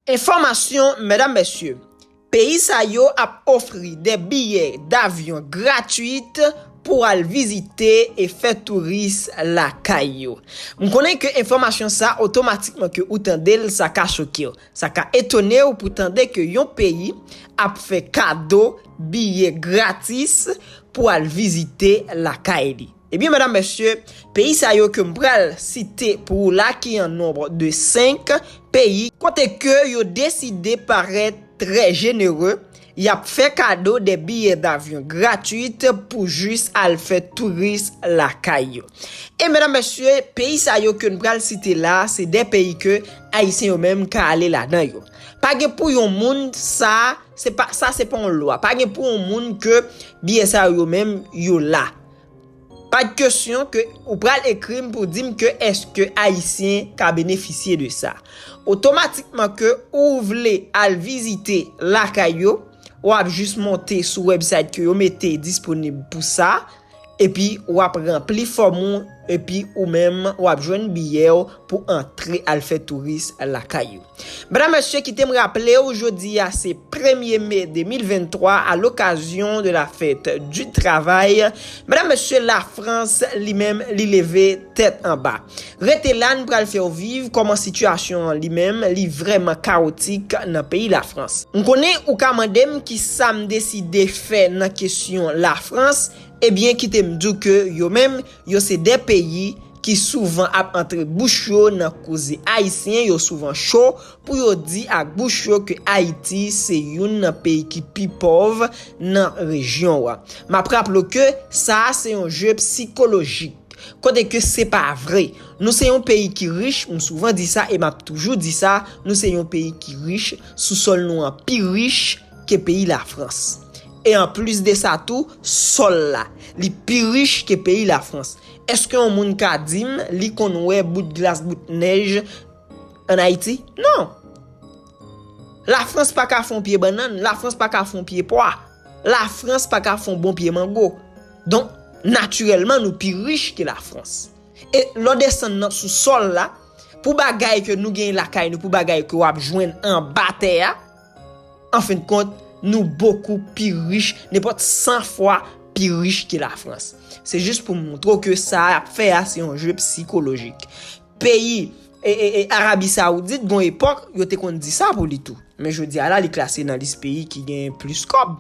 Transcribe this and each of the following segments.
Enfòmasyon Medam Mesye, Peyi sa yo ap ofri de biyè davyon gratuit pou al vizite e fè touris lakay yo. M konnen ke enfòmasyon sa otomatikman ke ou tande l sa ka choke w. Sa ka etone w pou tande ke yon peyi ap fè kado biyè gratis pou al vizite lakay li. Ebyen medam mesye, peyi sa yo ke m pral site pou ou la ki an nonb de 5 peyi, kote ke yo deside parèt trè jenere, y ap fè kado de biyè davyon gratwit pou jis al fè touris lakay yo. E medam mesye, peyi sa yo ke n pral site la, se de peyi ke ayisyen yo menm ka ale ladan yo. Pa gen pou yon moun sa, se pa sa se pa yon lwa, pa gen pou yon moun ke biyè sa yo menm yo la. Pad kesyon ke ou pral ekrim pou dim ke eske ayisyen ka benefisye de sa. Otomatikman ke ou vle al vizite lakay yo, wap jis monte sou website ke yo mete disponib pou sa, epi wap ranpli fòm ou, epi ou menm wap jwenn biyèw pou antre al fè touris lakay yo. Medam mesye kite m raple w jodi a se premye me 2023 a lokazyon de la fèt di travay medam mesye la frans li menm li leve tèt anba rete la n pral fè w viv kòman sitiyasyon an li menm li vrèman kawotik nan peyi la frans. M konnen ou ka mande m kisa m deside fè nan kesyon la frans ebyen kite m di w ke yo menm Yo se 2 peyi ki souvan ap antre bouch yo nan koze Ayisyen yo souvan cho pou yo di ak bouch yo ke Ayiti se youn nan peyi ki pi pòv nan rejyon an. M ap raple w ke sa a se yon je psikolojik, kote ke se pa vre. Nou se yon peyi ki rich, m souvan di sa e m ap toujou di sa, nou se yon peyi ki rich, sousòl nou an pi rich, ke peyi Lafrans. E an plis de sa tou, sòl la, li pi rich ke peyi Lafrans. Eske yon moun ka di m li konn wè bout glas bout nèj an Ayiti? Non! Lafrans pa ka fè yon pye bannann, Lafrans pa ka fè yon pye pwa, Lafrans pa ka fè yon bon pye mango. Donk, natirèlman nou pi rich ke Lafrans. E lè w desann nan sou sòl la, pou bagay ke nou gen lakay nou, pou bagay ke w ap jwenn anba tè a, Anfendkont, nou bokou pi rich, nenpòt 100 fwa pi rich ke Lafrans. Se jis pou moutre w ke sa a y ap fè a se yon jwe psikolojik. Peyi Arabi Sawoudit gon epòk yo te konn di sa pou li tou. Men jodi a la li klase nan lis peyi ki genyen plis kòb.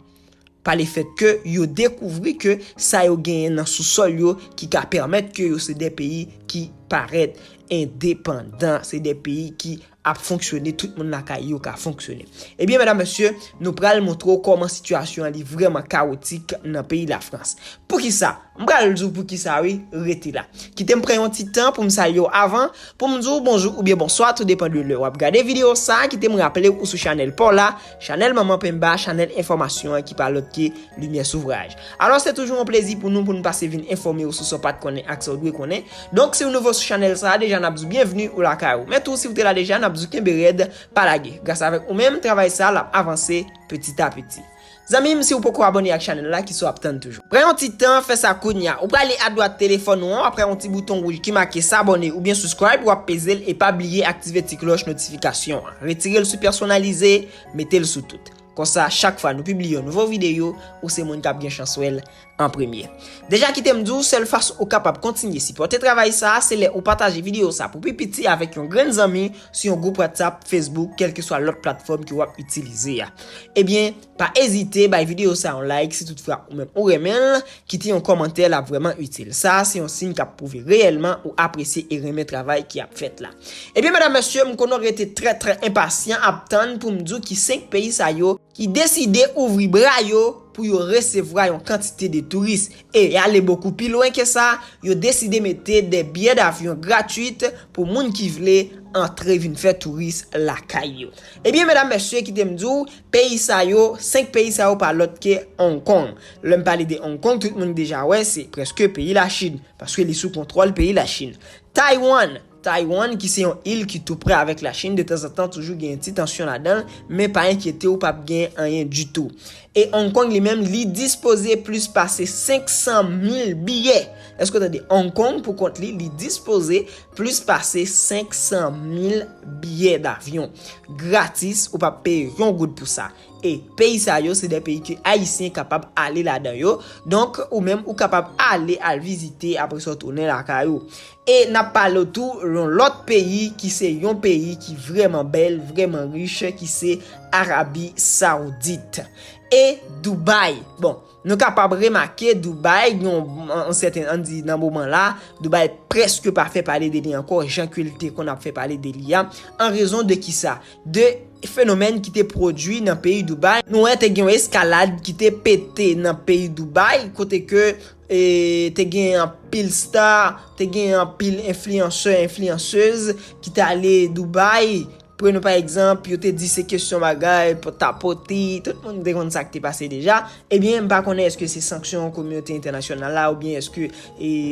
Pa le fèt ke yo dekouvri ke sa yo genyen nan sousòl yo ki ka pèmèt ke yo se de peyi ki parèt endepandan, se de peyi ki ap fonksyone tout moun lakay yo ka fonksyone ebyen medam mesye nou pral montre w kòman sitiyasyon an li vrèman kawotik nan peyi lafrans poukisa m pral di w poukisa wi rete la kite m pran yon ti tan pou m salye w avan pou m di w bonjou oubyen bonswa tou depan de lè wap gade videyo sa kite m raple w ou sou chanèl pa w la Chanèl Manman Penmba, chanèl enfòmasyon an ki pa lòt ke Limyè Souvraj. Alò se toujou yon plezi pou nou pou nou pase vin enfòme ou sou sa w pat konnen ak sa w dwe konnen. Donk si w nouvo sou chanèl sa a deja n ap di w byenvni ou lakay ou. Men tou si w te la deja n ap di w kenbe rèd, pa lage. Gras avèk ou menm, travay sa a l ap avanse peti a peti. Zanmi m si w poko abòne ak chanèl la ki sa w ap tann toujou. Pran yon ti tan, fè sa kounya. Ou prale a dwat telefòn ou an, wap ka yon ti bouton wouj ki make S'abonner oubyen Subscribe, wap peze l e pa bliye aktive ti klòch notifikasyon an. Retire l sou Pèsonalize, mete l sou Tout. Konsa, chak fwa nou pibliye yon nouvo videyo, ou se moun kap gen chans wè l an premye. Deja kite m di w, sèl fason ou kapab kontinye sipòte travay sa a, se lè ou pataje videyo sa a pou pi piti avèk yon grenn zanmi, sou yon gwoup WhatsApp, Facebook, kèlkeswa lòt platfòm ke wap itilize a. Ebyen. Pa ezite bay videyo sa yon like si tout fra ou menm ou renmen l, kite yon kòmantè lap vrèman itil. Sa a se yon siy kap pwouve reyèlman ou apresye e renmen travay ki ap fèt la. Ebyen medam mesye m konnen w rete trè trè enpasyan ap tann pou m di w ki 5 peyi sa yo ki deside ouvri bra yo pou yo resevwa yon kantite de touris e ale bokou pi lwen ke sa yo deside mete de biyè davyon gratuit pou moun ki vle antre vin fè touris lakay yo. Ebyen medam mesye kite m di w Peyi sa yo, 5 peyi sa yo pa lòt ke Hong Kong. Lè m pale de Hong Kong, tout moun deja wè se prèske peyi Lachin, paske li sou kontwòl peyi Lachin. Taiwan, Taiwan ki se yon il ki tou prè avèk Lachin, de tanzantan toujou genyen ti tansyon ladan l, men pa enkyete w pap genyen anyen ditou. E Hong Kong li menm, li dispoze plis pase 500 mil biyè. Èske w tande? Hong Kong pou kont li, li dispoze Plis pase 500 mil biyè davyon. Gratis, ou pap peye yon goud pou sa. E peyi sa yo se de peyi ke Ayisyen kapab ale ladan yo. Donk, ou menm ou kapab ale al vizite apre sa w tounen lakay ou. E n ap pale w tou yon lòt peyi ki se yon peyi ki vrèman bèl, vrèman rich ki se Arabi Saoudit. E Dubai. Bon. Nou kapab remake Dubaï gen yon sèten, an di nan moman la, Dubaï prèske pa fè pale de li ankò jan ke li te konn ap fè pale de li a, an rezon de ki sa? De fenomèn ki te pwodui nan peyi Dubaï, nou wè te gen yon eskalad ki te pete nan peyi Dubaï, kote ke te gen anpil star, te gen anpil enfliyansè, enfliyanseuz ki te ale Dubaï, Pre nou pa egzanp, yo te di se kesyon bagay, pot a poti, tout moun te konn sa k te pase deja. Ebyen, m pa konnen èske se sanksyon kominote entènasyonal la oubyen èske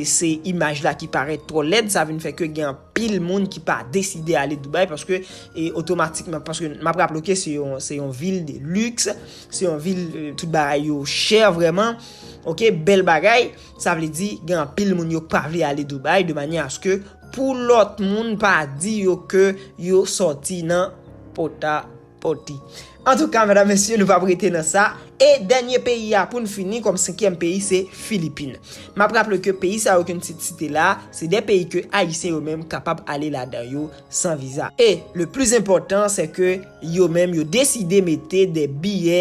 se imaj la ki parèt twò lèd sa vin fè ke gen anpil moun ki pa deside ale Dubai paske otomatikman, paske m ap raple w ke se yon vil de liks, se yon vil tout bagay yo chè vrèman, ok, bèl bagay, sa vle di gen anpil moun yo k pa vle ale Dubai de manyè aske Pou lòt moun pa di yo ke yo sòti nan pota poti. Antouka medam mesye nou pap rete nan sa e dènye peyi a poun fini kòm senkyèm peyi se Filipin. Map raple ke peyi sa yo ke n t site la se 2 peyi ke ayisyen yo menm kapab ale ladan yo san viza. E le plis enpòtan se ke yo menm yo deside mete 2 biyè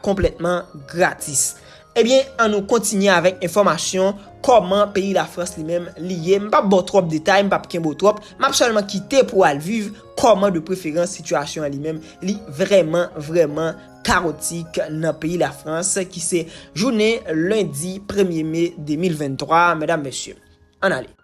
konplètman gratis. Ebyen an nou kontinye avèk enfòmasyon kòman peyi lafrans li menm li ye m pap baw twòp detay m pap kenbew twòp map sèlman kite pou al viv kòman de preferans sitiyasyon an li menm li vrèman vrèman kawotik nan peyi lafrans ki se jounen lendi premye me 2023 medam mesye ann ale.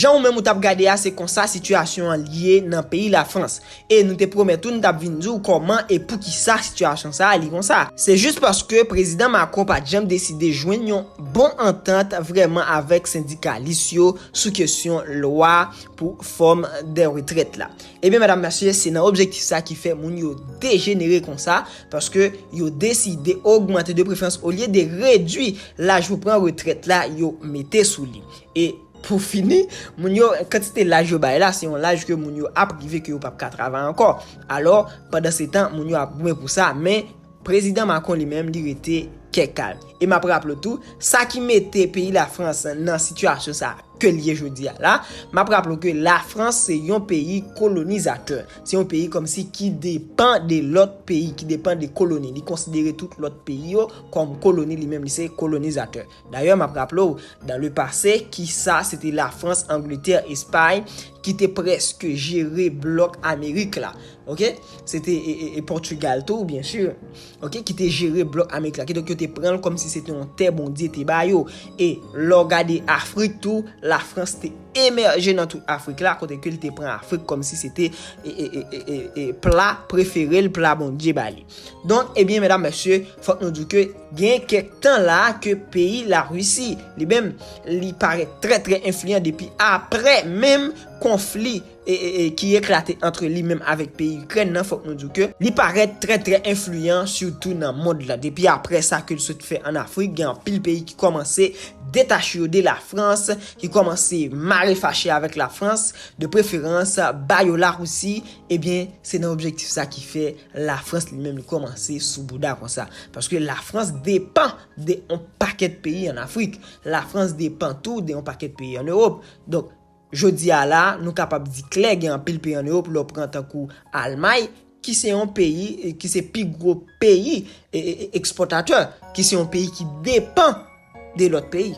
Jan ou menm ou tap gade a se konsa sitiyasyon an ye nan peyi Lafrans. E nou te pwomèt ou nou tap vin di w kòman e poukisa sitiyasyon sa a li konsa. Se jis paske Prezidan Macron pat janm deside jwenn yon bon antant vrèman avèk sendikalis yo sou kesyon lwa. pou fòm de retrèt la. Ebyen medam mesye se nan objektif sa ki fè moun yo dejenere konsa paske yo deside ogmante de prefrans olye de redwi laj pou pran retrèt la yo mete sou li. E pou fini moun yo kantite laj yo bay la se yon laj ke moun yo ap rive ke yo pap ka travay ankò. Alò pandan se tan moun yo ap goumen pou sa men. Prezidan Macron li menm li rete kè kalm. E map raple w tou, sa ki mete peyi la Frans nan sitiyasyon sa ke l ye jodi a la, map raple w ke la Frans se yon peyi kolonizatè, se yon peyi kòmsi ki depan de lòt peyi, ki depan de koloni, li konsidere tout lòt peyi yo kòm koloni, li menm li se kolonizatè. Dayè map raple w, dan le pase, kisa se te la Frans, Angletè, Espay ki te prèske jere blòk Amerik la. Ok? Se te e Pòtugal tou, byen si. Ok? Ki te jere blòk Amerik la. Ki donk yo te pran l kòm si se te yon tè Bondye te ba yo. E lè w gade Afrik tou, la Frans te emèje nan tout Afrik la, kote ke li te pran Afrik kòm si se te e pla prefere l, pla Bondye ba li. Donk ebyen medam mesye fòk nou diw ke gen kèk tan la ke peyi la Russie li menm li parèt trè trè enfliyan depi aprè menm konfli ki eklate antre li menm avèk peyi Ikrèn nan fòk nou diw ke li parèt trè trè enfliyan sitou nan mond la depi aprè sa ke li sot fè an Afrik gen anpil peyi ki kòmanse detache yo de la Frans ki kòmanse mare fache avèk la Frans de preferans ba yo la Russie ebyen se nan objektif sa ki fè Lafrans li menm li komanse sou bouda konsa. Paske lafrans depan de yon pakèt peyi an Afrik. Lafrans depan tou de yon pakèt peyi an Ewop. Donk, jodi a la, nou kapab di klè gen anpil peyi an Ewop lè w pran tankou Almay, ki se yon peyi, ki se pi gwo peyi ekspòtatè, ki se yon peyi ki depan de lòt peyi.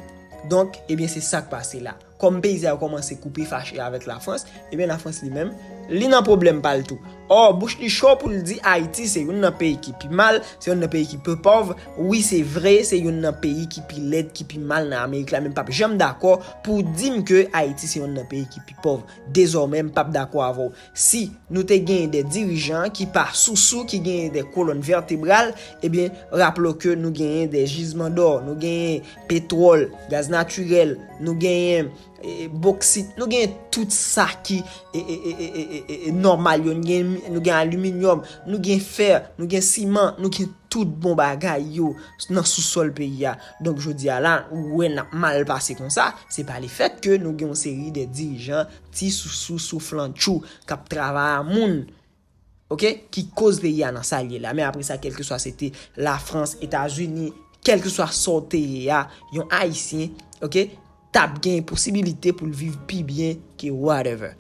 Donk, ebyen se sa k pase la. Kòm peyi sa yo kòmanse koupe fache avèk Lafrans, ebyen Lafrans li menm, li nan pwoblèm pa l tou. Ò, bouch li cho pou l di Ayiti se youn nan peyi ki pi mal, se youn nan peyi ki pi pòv, wi se vre se youn nan peyi ki pi lèd, ki pi mal nan Amerik la men m pap janm dakò pou w di m ke Ayiti se youn nan peyi ki pi pòv. Dezòmè m pap dakò avè w. Si nou te genyen de dirijan ki pa sousou, ki genyen de kolòn vètebral, ebyen raple w ke nou genyen de jizman dò, nou genyen Petwòl, gaz natirèl, nou genyen boksit, nou genyen tout sa ki nòmal yo, nou gen aliminyòm, nou gen fè, nou gen siman, nou gen tout bon bagay yo nan sou sòl peyi a. Donk jodi a la, ou wè n ap mal pase kon sa, se pa le fèt ke nou gen yon seri de dirijan ti sousou souflantchou k ap travay a moun. ok ki koz peyi a nan sal ye la men apre sa kelkeswa se te la frans etazini kelkeswa sa w te ye a yon ayisyen ok tap gen posibilite pou l viv pi byen ke whatever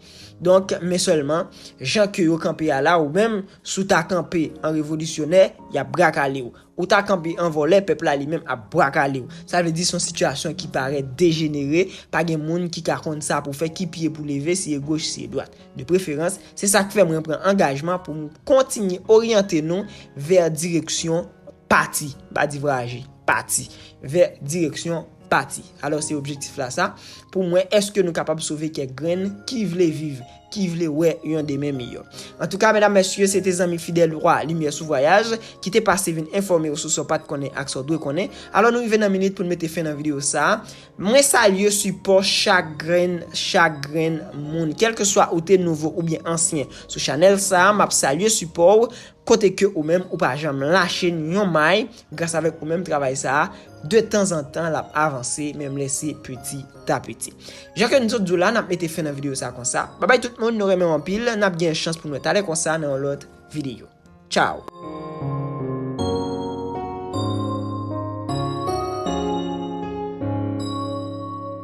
donk men selman jan ke yo kanpe a la ou menm sou ta kanpe an revolisyonè yap brakale ou Ou ta kanpe an vòlè, pèp la li menm ap bwa kale w. Sa vle di son sitiyasyon ki parèt dejenere, pa gen moun ki ka konn sa pou fè, ki pye pou leve, si e goch, si e dwat. De preferans, se sa k fè mwen pran angajman pou m kontinye oryante nou vè direksyon pati, m pa di vraje, pati, vè direksyon. Pati. Alò se objektif la sa, pou m wè èske nou kapab sove kèk grenn ki vle viv, ki vle wè yon demen miyò. Antouka, medam, mesye, se te zanmi fidèl wa Limyè sou Vwayaj ki te pase vin enfòme w sou sa w pa t konnen ak sa w dwe konnen. Alò nou rive nan minit pou n mete fen nan videyo sa. Mwen salye sipò chak grenn, chak grenn moun. Kèlkeswa ou te nouvo oubyen ansyen sou chanèl sa, m ap salye sipò w. Kote ke ou menm ou pa janm lache ni yon may gras avèk ou menm travay sa a, de tan zan tan l ap avanse menm lè se peti ta peti. Jan ke n sot di w la, n ap mete fen nan videyo sa a konsa. Babay tout moun, nou renmen w anpil, n ap gen chans pou n wè talè konsa nan yon lòt videyo. Tchaw!